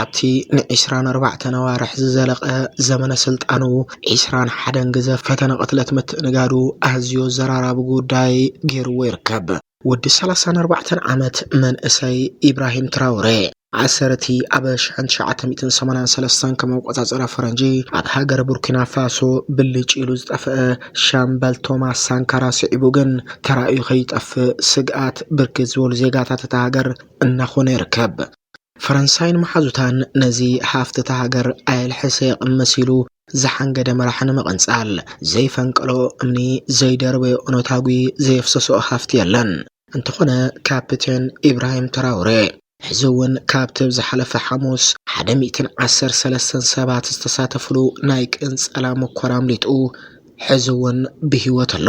ኣብቲ ንዒስራን ኣርባዕተን ኣዋርሕ ዝዘለቐ ዘመነ ስልጣኑ ዒስራን ሓደን ግዘ ፈተነ ቅትለት ምትእንጋዱ ኣዝዩ ኣዘራራቢ ጉዳይ ገይርዎ ይርከብ። ወዲ ሰላሳን ኣርባዕተን ዓመት መንእሰይ ኢብራሂም ትራውሬ ኣሰርቲ ኣብ ሽሕን ትሽዓተ ሚእትን ሰማንያን ሰለስተን ከም ኣቆፃፅራ ፈረንጂ ኣብ ሃገረ ቡርኪና ፋሶ ብልጭ ኢሉ ዝጠፍአ ሻምበል ቶማስ ሳንካራ ስዒቡ ግን ተራእዩ ከይጠፍእ ስግኣት ብርክት ዝበሉ ዜጋታት እታ ሃገር እናኾነ ይርከብ። ፈረንሳይን መሓዙታን ነዚ ሃፍቲ እታ ሃገር ኣየልሕሰ የቕምስ ኢሉ ዝሓንገደ መራሒ ንምቕንጻል፣ ዘይፈንቀሎ እምኒ፣ ዘይደርበዮ ኦነታጒ፣ ዘየፍሰሰኦ ሃፍቲ የለን። እንተኾነ ካፒቴን ኢብራሂም ትራውሬ፣ ሕዚ እውን ካብቲ ኣብ ዝሓለፈ ሓሙስ ሓደ ሚእትን ዓሰርተ ሰለስተን ሰባት ዝተሳተፍሉ ናይ ቅንጸላ ሙኮራ ኣምሊጡ ሕዚ እውን ብህይወት ኣሎ።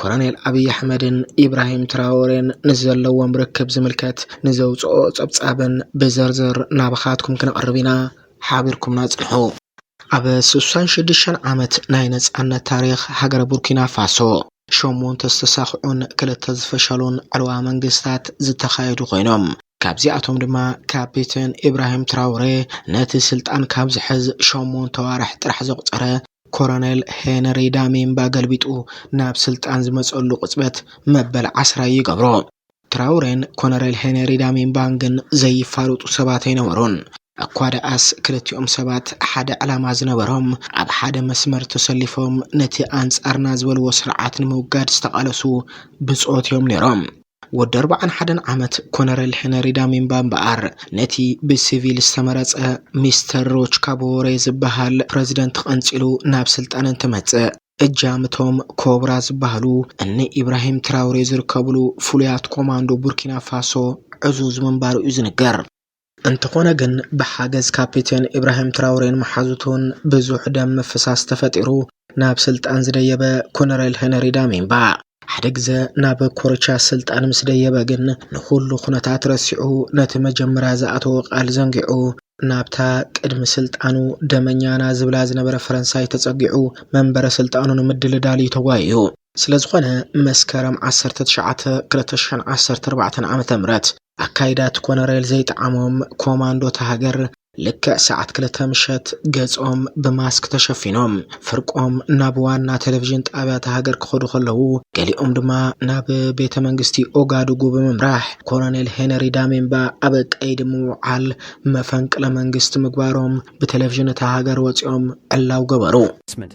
ኮረኔል ኣብዪ ኣሕመድን ኢብራሂም ትራወሬን ንዘለዎም ርክብ ዝምልከት ንዘውፅኦ ፀብፃብን ብዘርዘር ናባኻትኩም ክንቕርብ ኢና ሓቢርኩምና ፅንሑ። ኣብ ስሳን ሽዱሽተን ዓመት ናይ ነፃነት ታሪኽ ሃገረ ቡርኪና ፋሶ ሸሞንተ ዝተሳኽዑን ክልተ ዝፈሸሉን ዕልዋ መንግስታት ዝተኻየዱ ኮይኖም ካብዚኣቶም ድማ ካፒተን ኢብራሂም ትራውሬ ነቲ ስልጣን ካብ ዝሕዝ ሸሞንተ ኣዋርሕ ጥራሕ ዘቑፀረ ኮረኔል ሄነሪ ዳሚምባ ገልቢጡ ናብ ስልጣን ዝመፀሉ ቅፅበት መበል ዓስራይ ይገብሮ። ትራውሬን ኮነሬል ሄነሪ ዳሚምባን ግን ዘይፋለጡ ሰባት ኣይነበሩን። እኳ ደኣስ ክልቲኦም ሰባት ሓደ ዕላማ ዝነበሮም፣ ኣብ ሓደ መስመር ተሰሊፎም ነቲ ኣንጻርና ዝበልዎ ስርዓት ንምውጋድ ዝተቓለሱ ብጾት እዮም ነይሮም። ወዲ ኣርባዓን ሓደን ዓመት ኮነረል ሄነሪ ዳሚምባ እምበኣር፣ ነቲ ብሲቪል ዝተመረጸ ሚስተር ሮች ካቦወሬ ዝበሃል ፕረዚደንት ቐንጺሉ ናብ ስልጣን እንትመጽእ፣ እጃም እቶም ኮብራ ዝበሃሉ እኒ ኢብራሂም ትራውሬ ዝርከቡሉ ፍሉያት ኮማንዶ ቡርኪና ፋሶ ዕዙዝ ምንባሩ እዩ ዝንገር። እንተኾነ ግን ብሓገዝ ካፒቴን ኢብራሂም ትራውሬን መሓዙቱን ብዙሕ ደም ምፍሳስ ተፈጢሩ ናብ ስልጣን ዝደየበ ኮነሬል ሄነሪ ዳሚምባ ሓደ ግዘ ናብ ኮርቻ ስልጣን ምስ ደየበ ግን ንኹሉ ኩነታት ረሲዑ ነቲ መጀመርያ ዝኣተዎ ቃል ዘንጊዑ ናብታ ቅድሚ ስልጣኑ ደመኛና ዝብላ ዝነበረ ፈረንሳይ ተጸጊዑ መንበረ ስልጣኑ ንምድልዳል እዩ ተጓዩ። ስለዝኾነ መስከረም ዓሰርተ ትሽዓተ ክልተ ሽሕን ዓሰርተ ኣርባዕተን ዓመተ ምህረት ኣካይዳ እቲ ኮነሬል ዘይጠዓሞም ኮማንዶ እታ ሃገር ልክዕ ሰዓት ክልተ ምሸት ገጾም ብማስክ ተሸፊኖም ፍርቆም ናብ ዋና ቴሌቪዥን ጣብያ እታ ሃገር ክኸዱ ከለዉ ገሊኦም ድማ ናብ ቤተ መንግስቲ ኦጋዱጉ ብምምራሕ ኮሎኔል ሄነሪ ዳሜምባ ኣብ ቀይዲ ምውዓል መፈንቅለ መንግስቲ ምግባሮም ብቴሌቪዥን እታ ሃገር ወጺኦም ዕላው ገበሩ። ስምት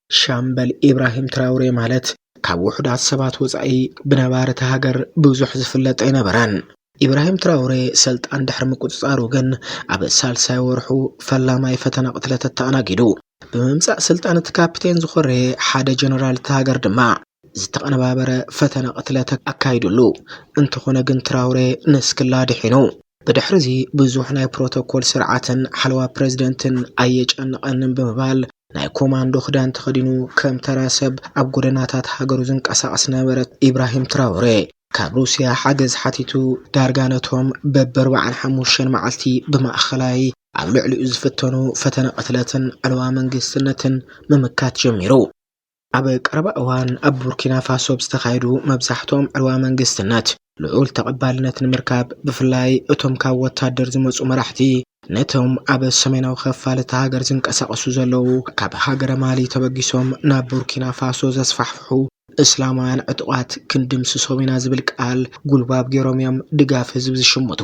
ሻምበል ኢብራሂም ትራውሬ ማለት ካብ ውሑዳት ሰባት ወፃኢ ብነባሪ እቲ ሃገር ብዙሕ ዝፍለጥ ኣይነበረን። ኢብራሂም ትራውሬ ሰልጣን ድሕሪ ምቁፅፃሩ ግን ኣብ ሳልሳይ ወርሑ ፈላማይ ፈተነ ቅትለት ኣተኣናጊዱ። ብምምፃእ ስልጣን እቲ ካፕቴን ዝኾረየ ሓደ ጀነራል እቲ ሃገር ድማ ዝተቐነባበረ ፈተነ ቅትለት ኣካይዱሉ፣ እንተኾነ ግን ትራውሬ ንስክላ ድሒኑ። ብድሕሪ'ዚ ብዙሕ ናይ ፕሮቶኮል ስርዓትን ሓለዋ ፕረዚደንትን ኣየጨንቐንን ብምባል ናይ ኮማንዶ ክዳን ተኸዲኑ ከም ተራ ሰብ ኣብ ጎደናታት ሃገሩ ዝንቀሳቐስ ነበረ ኢብራሂም ትራውሬ። ካብ ሩስያ ሓገዝ ሓቲቱ ዳርጋ ነቶም በቢ ኣርባዓን ሓሙሽተን መዓልቲ ብማእከላይ ኣብ ልዕሊኡ ዝፍተኑ ፈተነ ቅትለትን ዕልዋ መንግስትነትን ምምካት ጀሚሩ። ኣብ ቀረባ እዋን ኣብ ቡርኪናፋሶ ብዝተኻየዱ መብዛሕትኦም ዕልዋ መንግስትነት ልዑል ተቐባልነት ንምርካብ ብፍላይ እቶም ካብ ወታደር ዝመፁ መራሕቲ ነቶም ኣብ ሰሜናዊ ኸፋል እታ ሃገር ዝንቀሳቐሱ ዘለዉ ካብ ሃገረ ማሊ ተበጊሶም ናብ ቡርኪናፋሶ ዘስፋሕፍሑ እስላማውያን ዕጡቓት ክንድምስሶም ኢና ዝብል ቃል ጉልባብ ገይሮም እዮም ድጋፍ ህዝቢ ዝሽምቱ።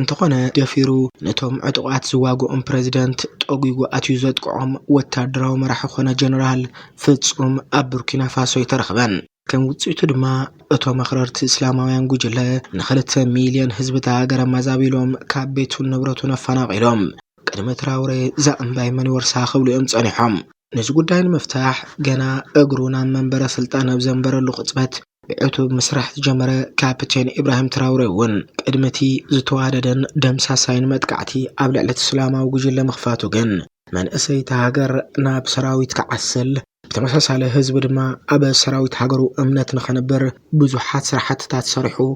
እንተኾነ ደፊሩ ነቶም ዕጡቓት ዝዋግኦም ፕረዚደንት ጠጒጉ ኣትዩ ዘጥቅዖም ወታደራዊ መራሒ ኮነ ጀነራል ፍጹም ኣብ ቡርኪናፋሶ ኣይተረኽበን። ከም ውጽኢቱ ድማ እቶም ኣኽረርቲ እስላማውያን ጉጅለ ንክልተ ሚልዮን ህዝቢ እታ ሃገር ኣማዛቢሎም ካብ ቤቱን ንብረቱን ኣፈናቒሎም፣ ቅድሚ ትራውሬ እዛ እምባይ መን ይወርሳ ክብሉ እዮም ጸኒሖም። ነዚ ጉዳይ ንምፍታሕ ገና እግሩ ናብ መንበረ ስልጣን ኣብ ዘንበረሉ ቅጽበት ብዕቱብ ምስራሕ ዝጀመረ ካፕቴን ኢብራሂም ትራውሬ እውን ቅድሚ እቲ ዝተዋደደን ደምሳሳይን መጥቃዕቲ ኣብ ልዕሊ እቲ እስላማዊ ጉጅለ ምኽፋቱ ግን መንእሰይ እታ ሃገር ናብ ሰራዊት ክዓስል ብተመሳሳሊ ህዝቢ ድማ ኣብ ሰራዊት ሃገሩ እምነት ንኸንብር ብዙሓት ስራሕትታት ሰሪሑ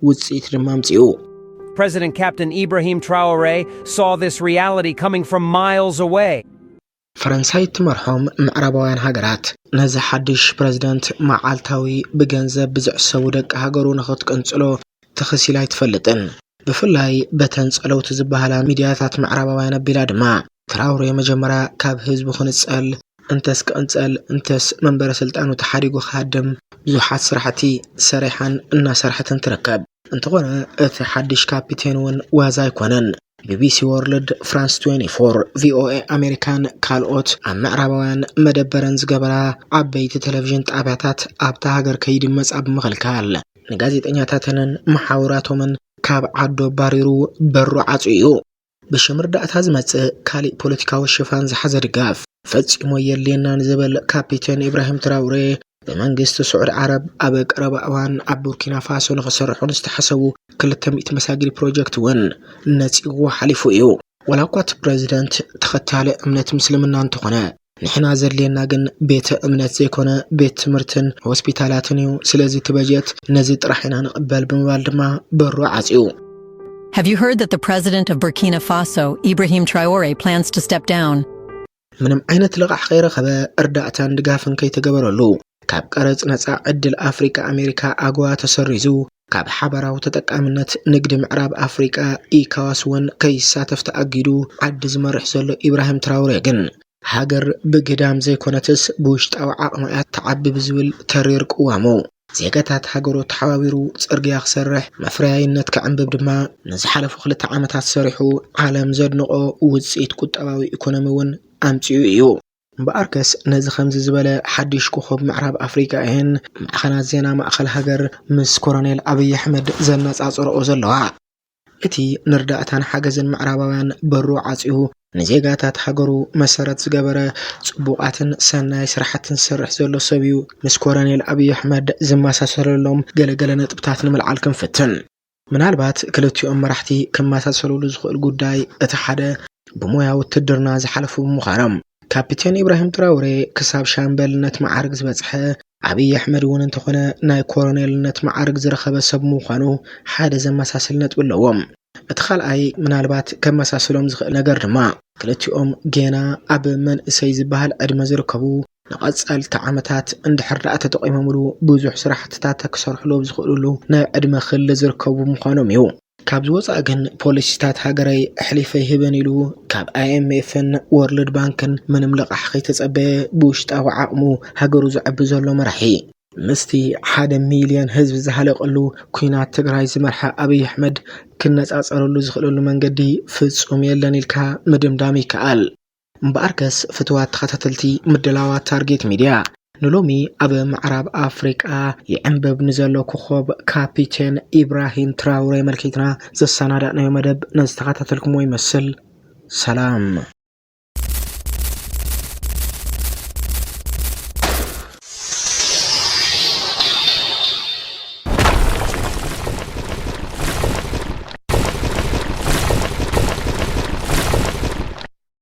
ውጽኢት ድማ ኣምጺኡ። President Captain Ibrahim Traore saw this reality coming from miles away. ፈረንሳይ እትመርሖም ምዕራባውያን ሃገራት፣ ነዚ ሓድሽ ፕረዚደንት መዓልታዊ ብገንዘብ ብዝዕሰቡ ደቂ ሃገሩ ንኽትቅንጽሎ ተኸሲላ ኣይትፈልጥን። ብፍላይ በተን ጸለውቲ ዝበሃላ ሚድያታት ምዕራባውያን ኣቢላ ድማ፣ ትራውሬ መጀመርያ ካብ ህዝቡ ክንጸል፣ እንተስ ክቕንጸል እንተስ መንበረ ስልጣኑ ተሓዲጉ ክሃድም ብዙሓት ስራሕቲ ሰሪሓን እናሰርሐትን ትርከብ። እንተኾነ እቲ ሓድሽ ካፒቴን እውን ዋዛ ኣይኮነን። ቢቢሲ ወርልድ፣ ፍራንስ 24፣ ቪኦኤ ኣሜሪካን ካልኦት ኣብ ምዕራባውያን መደበረን ዝገበራ ዓበይቲ ቴሌቪዥን ጣብያታት ኣብታ ሃገር ከይድመጻ ብምኽልካል ንጋዜጠኛታተንን መሓውራቶምን ካብ ዓዱ ኣባሪሩ በሩ ዓጽዩ እዩ። ብሽም ርዳእታ ዝመጽእ ካሊእ ፖለቲካዊ ሽፋን ዝሓዘ ድጋፍ ፈጺሙ ኣየድልየናን ዝብል ካፒቴን ኢብራሂም ትራውሬ ብመንግስቲ ስዑዲ ዓረብ ኣብ ቀረባ እዋን ኣብ ቡርኪና ፋሶ ንክስርሑ ንዝተሓሰቡ ክልተ ሚእቲ መሳጊድ ፕሮጀክት እውን ነጺግዎ ሓሊፉ እዩ። ዋላ እኳ እቲ ፕረዚደንት ተኸታሊ እምነት ምስልምና እንተኾነ፣ ንሕና ዘድልየና ግን ቤተ እምነት ዘይኮነ ቤት ትምህርትን ሆስፒታላትን እዩ። ስለዚ እቲ በጀት ነዚ ጥራሕ ኢና ንቕበል ብምባል ድማ በሩ ዓጽዩ። Have you heard that the president of Burkina Faso, Ibrahim Traore, plans to step down? ምንም ዓይነት ልቓሕ ከይረኸበ እርዳእታን ድጋፍን ከይተገበረሉ ካብ ቀረጽ ነጻ ዕድል ኣፍሪቃ ኣሜሪካ ኣጎዋ ተሰሪዙ ካብ ሓባራዊ ተጠቃምነት ንግዲ ምዕራብ ኣፍሪቃ ኢካዋስ'ውን ከይሳተፍ ተኣጊዱ ዓዲ ዝመርሕ ዘሎ ኢብራሂም ትራውሬ ግን፣ ሃገር ብግዳም ዘይኮነትስ ብውሽጣዊ ዓቕማ'ያ ትዓቢ ብዝብል ተሪር ቅዋሙ፣ ዜጋታት ሃገሩ ተሓባቢሩ ጽርግያ ክሰርሕ፣ መፍረያይነት ከዕንብብ ድማ ንዝሓለፉ ክልተ ዓመታት ሰሪሑ ዓለም ዘድንቖ ውጽኢት ቁጠባዊ ኢኮኖሚ'ውን ኣምጺኡ እዩ። እምበኣርከስ ነዚ ከምዚ ዝበለ ሓድሽ ኮኾብ ምዕራብ ኣፍሪቃ እየን ማዕኸናት ዜና ማእከል ሃገር ምስ ኮረኔል ኣብይ ኣሕመድ ዘነጻጽረኦ ዘለዋ። እቲ ንርዳእታን ሓገዝን ምዕራባውያን በሩ ዓጽዩ ንዜጋታት ሃገሩ መሰረት ዝገበረ ጽቡቓትን ሰናይ ስራሕትን ዝሰርሕ ዘሎ ሰብ'ዩ። ምስ ኮረኔል ኣብይ ኣሕመድ ዝመሳሰለሎም ገለ ገለ ነጥብታት ንምልዓል ክንፍትን። ምናልባት ክልቲኦም መራሕቲ ክመሳሰሉሉ ዝኽእል ጉዳይ እቲ ሓደ ብሞያ ውትድርና ዝሓለፉ ብምዃኖም ካፒቴን ኢብራሂም ትራውሬ ክሳብ ሻምበልነት መዓርግ ዝበፅሐ ኣብይ ኣሕመድ እውን እንተኾነ ናይ ኮረኔልነት መዓርግ ዝረኸበ ሰብ ምዃኑ ሓደ ዘመሳስል ነጥቢ ኣለዎም። እቲ ካልኣይ ምናልባት ከመሳስሎም ዝኽእል ነገር ድማ ክልቲኦም ጌና ኣብ መንእሰይ ዝበሃል ዕድመ ዝርከቡ ንቐፀልቲ ዓመታት እንድሕር ደኣ ተጠቒሞምሉ ብዙሕ ስራሕትታት ክሰርሕሉ ኣብ ዝኽእልሉ ናይ ዕድመ ክሊ ዝርከቡ ብምዃኖም እዩ። ካብዚ ወፃኢ ግን ፖሊሲታት ሃገረይ ኣሕሊፈ ኣይህብን ኢሉ ካብ ኣይኤምኤፍን ዎርልድ ባንክን ምንም ልቓሕ ከይተፀበየ ብውሽጣዊ ዓቕሙ ሃገሩ ዘዕቢ ዘሎ መራሒ፣ ምስቲ ሓደ ሚልየን ህዝቢ ዝሃለቐሉ ኲናት ትግራይ ዝመርሐ ኣብይ ኣሕመድ ክነፃፀረሉ ዝኽእለሉ መንገዲ ፍፁም የለን ኢልካ ምድምዳም ይከኣል። እምበኣርከስ ፍቱዋት ተኸታተልቲ ምድላዋት ታርጌት ሚድያ፣ ንሎሚ ኣብ ምዕራብ ኣፍሪቃ ይዕምብብ ንዘሎ ኮኾብ ካፒቴን ኢብራሂም ትራውረ ኣመልኪትና ዘሰናዳእናዮ መደብ ነዚ ተኸታተልኩምዎ ይመስል። ሰላም።